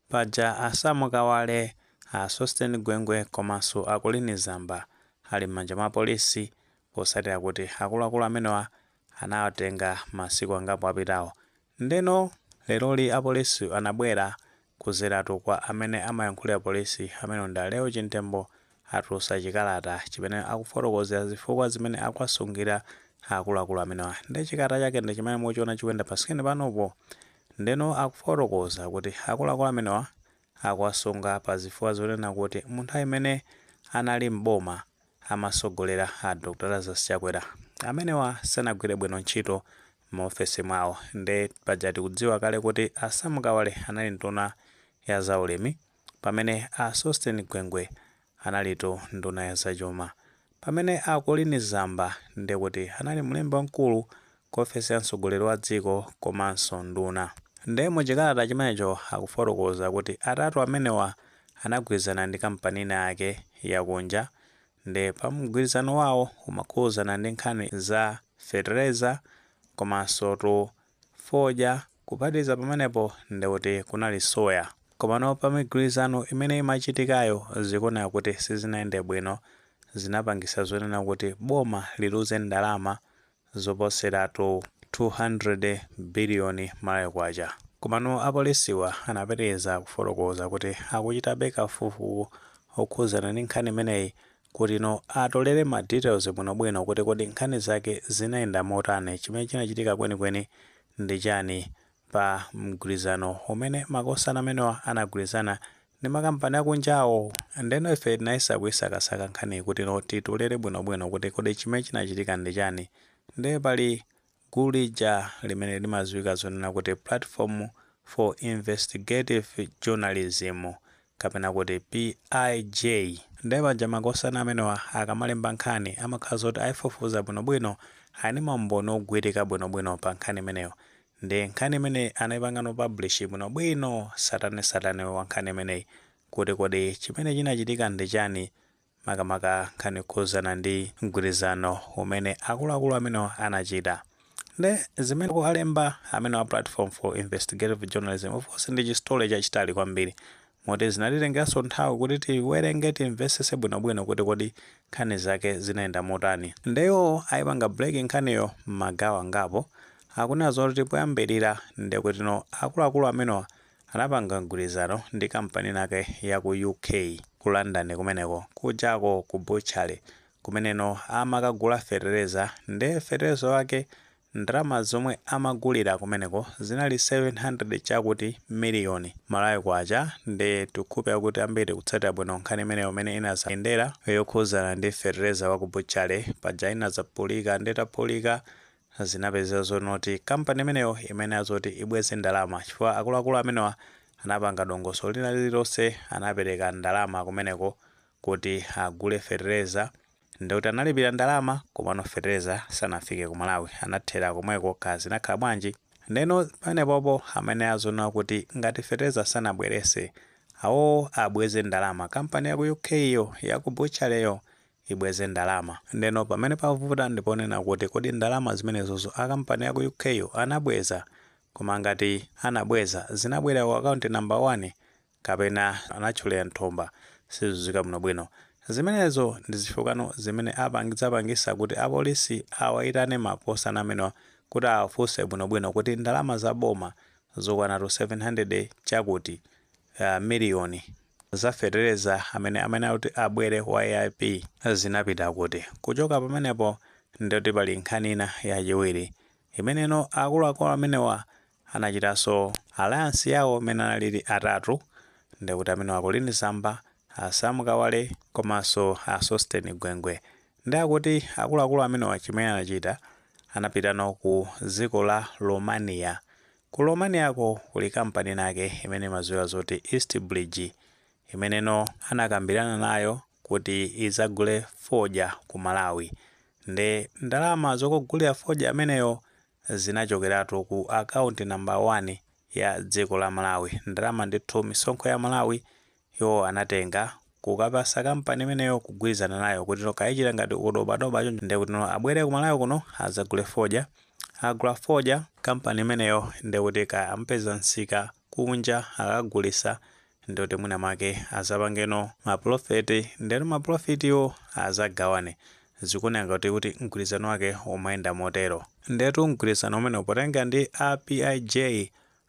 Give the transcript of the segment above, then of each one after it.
Paja a Sam Kawale, a Sosten Gwengwe komanso a Colleen Zamba ali m'manja mwa apolisi potsatira kuti akuluakulu amenewa anawatenga masiku angapo apitawo. Ndeno leroli apolisi anabwera kudzeratu kwa amene amayankhulira polisi amenewa ndi a Lael Chimtembo atulutsa chikalata chimene akufotokozera zifukwa zimene akuwasungira akuluakulu amenewa nde chikalata chake ndi chimene muchiona chikuyenda pa screen panopo ndeno akufotokoza kuti akuluakulu amenewa akuwasunga pa zifukwa zonena kuti mu nthawi imene anali m'boma amatsogolera a Dr Lazarus Chakwera amenewa sanagwire bwino ntchito m'maofesi mwawo nde paja tikudziwa kale kuti a Sam Kawale anali nduna ya zaulimi Pamene a Sosten Gwengwe analitu nduna ya zachuma. Pamene a Colleen Zamba ndiye kuti anali mlembi wamkulu ku ofesi ya mtsogoleri wa dziko komanso nduna. Nde mu chikalata chimenecho akufotokoza kuti atatu amenewa anagwirizana ndi kampani ina yake yakunja ndiye pa mgwirizano wawo umakhudzana ndi nkhani za fetereza komansotu fodya kuphatikiza pamenepo ndikuti kunali soya komano pamigwirizano imene imachitikayo zikuoneka kuti sizinayende bwino zinapangisa zonena kuti boma liluze ndalama zoposeratu 200 biliyoni malawi kwacha komano apolisiwa anapitiliza kufotokoza kuti akuchitabe kafukufuku okhuzana ndi nkhani imeneyi kuti no atolere ma details bwino bwino kuti kodi nkhani zake zinayenda motani, chimene chinachitika kweni kweni ndi chani pa mgwirizano umene makosana amenewa anagwirizana ndi ma kampani akunjawo. Ndeno ife tinayesa kuisakasaka nkhaniyi kuti no titolere bwino bwino kuti kodi chimene chinachitika ndi chani. Nde pali. Gulu lija limene limadziwika zonena kuti Platform for Investigative Journalism kapena kuti PIJ, nde paja makosana amenewa akamalemba nkhani amakhala zakuti aifufuza bwinobwino, ali ndi maumboni ogwirika bwinobwino pa nkhani imeneyo, nde nkhani imene anaipangano publish bwinobwino satanensatane wa nkhani imeneyi kuti kodi chimene chinachitika ndi chani makamaka nkhani yokhudzana ndi mgwirizano umene akuluakulu amenewa anachita. Nde zimene akulemba amenewa Platform for Investigative Journalism, of course ndi chistory chachitali kwambiri moti zinatitengeranso nthawi kuti tiwerenge, timvetsetse bwinobwino kuti kodi nkhani zake zinayenda motani. Nde iwo aipanga break nkhaniyo m'magawo angapo. Akunena zoti poyambirira ndekutino akuluakulu amenewa Anapanga mgwirizano ndi kampani inake ya ku UK, ku London kumeneko. Kujako ku butchery kumeneno amakagula fetereza nde fetereza wake ndalama zomwe amagulira kumeneko zinali 700 chakuti miliyoni, Malawi Kwacha, nde tikhulupira kuti ambiri tikutsatira bwino nkhani imeneyo mmene inazayendera yokhuzana ndi fetereza wa ku butchery paja inadzaphulika nde itaphulika Zinapezeka zonoti kampani imeneyo imayenera zoti ibweze ndalama chifukwa akuluakulu amenewa anapanga dongosolo lina lililonse anapereka ndalama kumeneko kuti agule fetereza ndikuti analipira ndalama komano fetereza sanafike ku Malawi anathera komweko kaya zinakhala bwanji ndeno panepopo amayenera zonena kuti ngati fetereza sanabwerese awo abweze ndalama kampani ya ku UK yo ya ku butchery yo ibweze ndalama. Ndeno pamene pavuta ndiponena kuti kodi ndalama zimenezozo a kampani ya ku UK yo anabweza? Koma ngati anabweza, zinabwerera ku akaunti namba wani kapena anatchulira mthumba? Sizikudziwika bwinobwino. Zimenezo ndi zifukwano zimene apang zapangisa kuti a polisi awaitane makosana amenewa kuti awafunse bwinobwino kuti ndalama za boma zokwanatu 700 chakuti, uh, miliyoni, za fetereza amene amayenera kuti abwere wa AIP zinapita kuti? Kuchoka pamenepo ndiye kuti pali nkhani ina yachiwiri imeneno akuluakulu amenewa anachitaso alliance yawo imene analipo atatu ndiye kuti amenewa a Colleen Zamba, a Sam Kawale komanso a Sosten Gwengwe ndiye akuti akuluakulu amenewa chimene anachita anapitano ku dziko la Romania Ku Romaniako kuli kampani inayake imene imadziwika zoti Eastbridge, imeneno anakambirana nayo kuti idzagule fodya ku Malawi. Nde ndalama zokagulira fodya ameneyo zinachokeratu ku akaunti nambala wani ya dziko la Malawi. Ndalama ndithu, misonkho ya Amalawi Iwo anatenga, kukapasa kampani imeneyo kugwilizana nayo kutino kaya ichita ngati udobadoba choncho nde kutino abwele ku Malawi kuno azagule fodya, akagula fodya kampani imeneyo nde kuti kaya amupeza nsika kunja akakagulisa nde kuti mwina mwake azapangeno ma profit ndeno ma profit wo azagawane. Zikuoneka ngati kuti mgwilizano wake umayenda motero. Ndetu mgwilizano umenewu potengela ndi a PIJ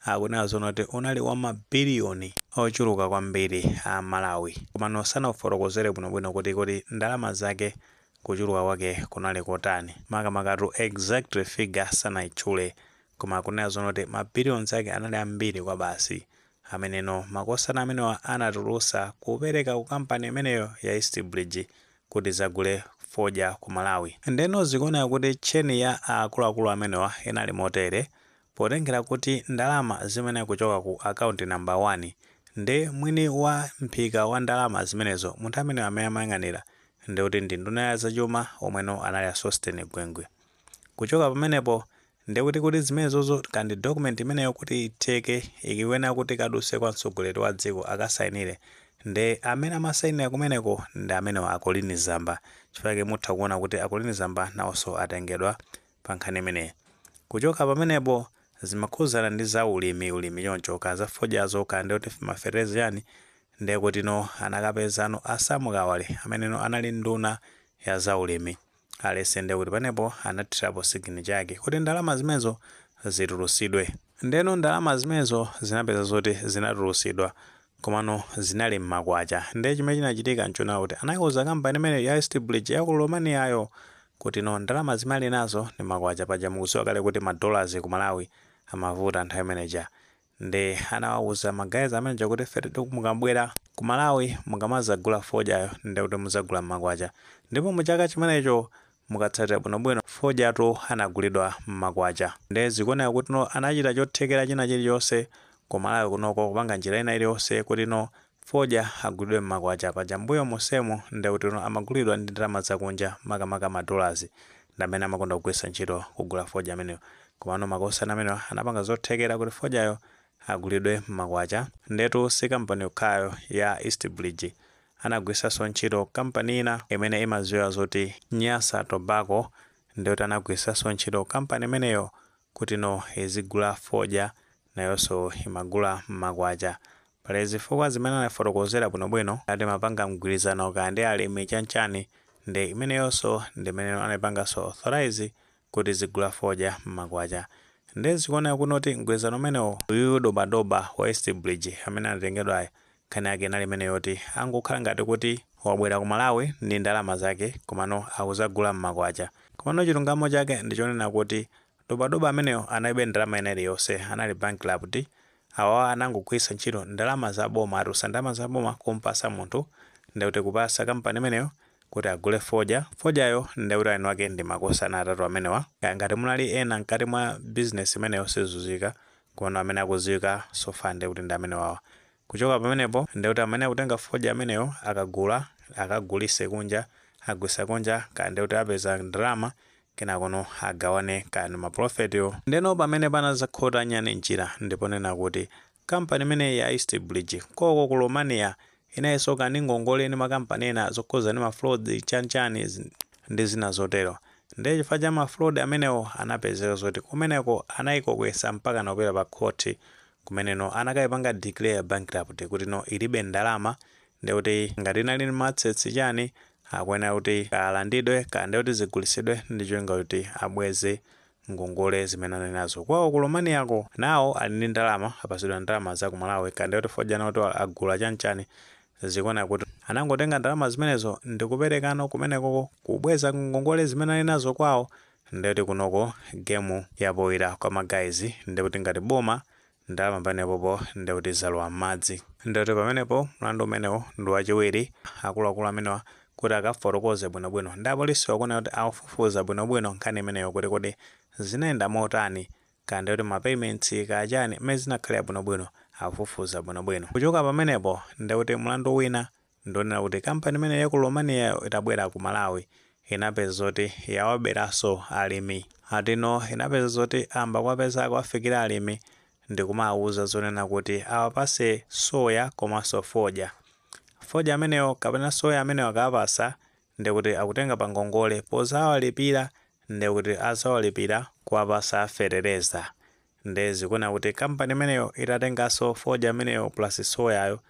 Akunena zonena kuti unali wa ma billion ochuluka kwambiri a Malawi komano sanaufotokozere bwino bwino kuti kodi ndalama zake kuchuluka kwake kunali kotani makamakatu exact figure sanaitchule koma akunena zonena kuti ma billions ake anali ambiri kwabasi ameneno makosana amenewa anatulusa kupereka ku company imeneyo ya East Bridge kuti izagule fodya ku Malawi ndeno zikuoneka kuti chain ya akuluakulu amenewa inali motere Potengera kuti ndalama zimene kuchoka ku akaunti number 1 ndi mwini wa mphika wa ndalama zimenezo munthu ameneyo amene amayang'anira ndekuti ndi nduna ya zachuma omwe no anali a Sosten Gwengwe. Kuchoka pamenepo ndekuti kuti zimenezozo kandi document imeneyo kuti itheke ikuyenera kuti ikaduse kwa mtsogoleri wa dziko akasainire nde amene amasainira kumeneko ndi amenewa a Colleen Zamba chifukwa chake mutha kuona kuti a Colleen Zamba nawoso atengedwa pa nkhani imeneyi. Kuchoka pamenepo, zimakhudzana ndi za ulimi, ulimi chonchi, kaya za fodyazo, kaya ndiye kuti ma fertilizer chiyani, ndiye kutino anakapezano a Sam Kawale ameneno anali nduna ya za ulimi, aliyense ndiye kuti panepo anathirapo signature yake kuti ndalama zimenezo zitulutsidwe. Ndeno ndalama zimenezo zinapezeka zoti zinatulutsidwa, komano zinali mmakwacha nde chimene chinachitika nchonena kuti anaiuza company imeneyo ya East Bridge ya ku Romaniayo kuti no ndalama zimene ali nazo ndi makwacha paja mukudziwa kale kuti ma dollars ku Malawi amavuta nthawi imeneija nde anawauza ma guys ameneja kuti inu mukabwera ku Malawi mukamazagula fodyayo nde kuti muzagula mmakwacha ndipo mu chaka chimenecho mukatsatira bwino bwino fodyatu anagulidwa mmakwacha nde zikuoneka kuti no anachita chothekera china chilichonse ku Malawi kunoko kupanga njira ina iliyonse kuti no fodya agulidwe mmakwacha paja mbuyo monsemu ndekuti no amagulidwa ndi ndalama zakunja makamaka ma dollars ndamene amakonda kugwiritsa ntchito kugula fodya ameneyo komano makosana amenewa anapanga zothekera kuti fodyayo agulidwe mmakwacha ndetu si company yokhayo ya Eastbridge anagwiritsanso ntchito kampani ina imene imadziwika zoti Nyasa Tobacco ndiye kuti anagwiritsanso ntchito kampani imeneyo kuti no izigula fodya nayonso imagula m'makwacha. Pali zifukwa zimene anafotokozera bwinobwino kuti amapanga mgwirizano kaya ndi alimi chanchani nde imeneyonso ndi imene no anaipanganso authorise kuti izigula fodya mmakwacha nde zikuoneka kuti no mgwirizano umenewo uyuyu dobadoba wa east bridge amene anatengedwayo nkhani yake inali imeneyo yoti angokhala ngati kuti wabwera ku malawi ndi ndalama zake komano akuzagula mmakwacha komano chilungamo chake ndichonena kuti dobadoba ameneyo analibe ndalama ina iliyonse anali bankrupt Awa anangogwiritsa ntchito ndalama za boma, atulutsa ndalama za boma kumpasa munthu ndiye kuti kupasa kampani imeneyo kuti agule fodya, fodyayo ndiye kuti eni wake ndi makosana atatu amenewa. Kaya ngati munalinso ena mkati mwa bizinesi imeneyo sizikudziwika komano amene akudziwika so far ndiye kuti ndi amenewawa. Kuchoka pamenepo ndiye kuti amene akutenga fodya ameneyo akagula akagulise kunja, agulisa kunja kaya ndiye kuti apeza ndalama kenakono agawane kaya ndi ma profitwo ndeno pamene panadzakhota nyani mchira ndi ponena kuti company imeneyi ya east bridge konko ku romania inalinso kale ndi ngongole ndi makampani ena zokhudzana ndi ma frauds chanichani ndi zina zotero ndiye chifukwa cha ma fraud amenewo anapezeka zoti kumeneko anayikokera mpakana kupita pa khoti kumeneko anakayipanga declare bankrupt kuti no ilibe ndalama ndiye kuti ngati inali ndi ma assets chani akuyenera kuti alandidwe kaya ndiye kuti zigulitsidwe ndi cholinga kuti abweze ngongole zimene anali nazo kwawo ku Romaniyako nawo ali ndi ndalama apasidwa ndalama za ku Malawi kaya ndiye kuti fodya nawo kuti agula chanichani zikuona kuti anangotenga ndalama zimenezo ndi kukaperekano kumenekoko kubweza ngongole zimene ali nazo kwawo ndikuti kunoko gemu yapoira kwa magayizi ndikuti ngati boma Nde pamenepopo nde kuti zalowa m'madzi. Nde kuti pamenepo mlandu umenewo ndi wachiwiri akuluakulu amenewa kuti akafotokoze bwinobwino ndi apolisiwo akuyenera kuti aifufuze bwinobwino nkhani imeneyo kuti kodi zinayenda motani kaya ndi kuti ma payments kaya chani mmene zinakhalira bwinobwino aifufuze bwinobwino. Kuchoka pamenepo nde kuti mlandu wina Ndi wonena kuti kampani imeneyi ya ku Romaniayo itabwera ku Malawi inapeza zoti yawaberanso alimi. Ati no inapezeka zoti ayamba kuwapeza kuwafikira alimi ndi kumawauza zonena kuti awapase soya komanso fodya. Fodya ameneyo kapena soya ameneyo akawapasa ndiye kuti akutenga pa ngongole pozawalipira ndiye kuti azawalipira powapasa fetereza. nde zikuoneka kuti company imeneyo itatengaso fodya ameneyo plus soyayo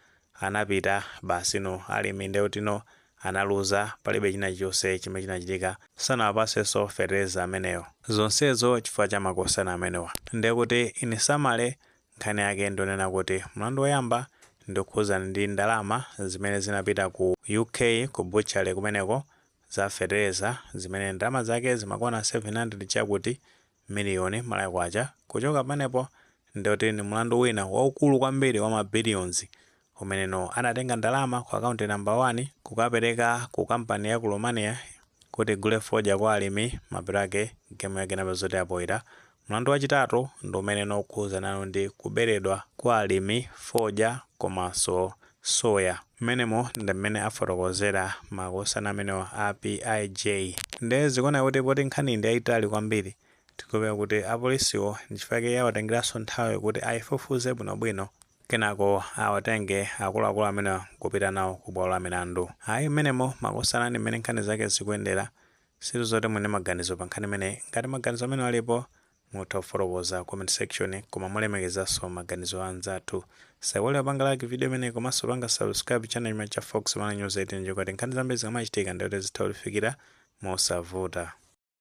anapita basi no alimi ndekuti no analuza palibe china chilichonse chimene chinachitika sanawapasenso fertilizer ameneyo zonsezo chifukwa cha makosana amenewa ndekuti in summary nkhani yake ndi yonena kuti mlandu woyamba ndi wokhuzana ndi ndalama zimene zinapita ku UK ku butchery kumeneko za fertilizer zimene ndalama zake zimakwana 700 chakuti miliyoni Malawi Kwacha kuchoka pamenepo ndiye kuti ndi mulandu wina waukulu kwambiri wa ma billions umene no anatenga ndalama ku account number 1 kukapereka ku company ya ku Romania kuti igule fodya kwa alimi mapeto ake game yake inapezeka zoti yapoira Mlandu wachitatu ndi umeneno ukukhudzanano ndi kuberedwa kwa alimi fodya komanso soya. Mmenemo ndi mmene afotokozera makosana amenewa a PIJ. Ndiye zikuoneka kuti poti nkhaniyi ndi yaitali kwambiri, tikuyembekezera kuti apolisiwo n'chifukwa chake yawatengeranso nthawi kuti aifufuze bwinobwino kenako awatenge akuluakulu amenewa n'kupita nawo kubwalo la milandu. Ayi, mmenemo makosana ndi mmene nkhani zake zikuyendera. Sindikudziwa kuti muli ndi maganizo pa nkhani imeneyi. Ngati maganizo amenewo alipo, Mutha kufotokoza pa comment section koma molemekezaso maganizo a anzathu. Tisaiwale kupanga like video imeneyi komaso kupanga subscribe channel chomwechi cha Fox Malawi News 18 cholinga choti nkhani zambiri zikamachitika ndiye kuti zitha kutifikira mosavuta.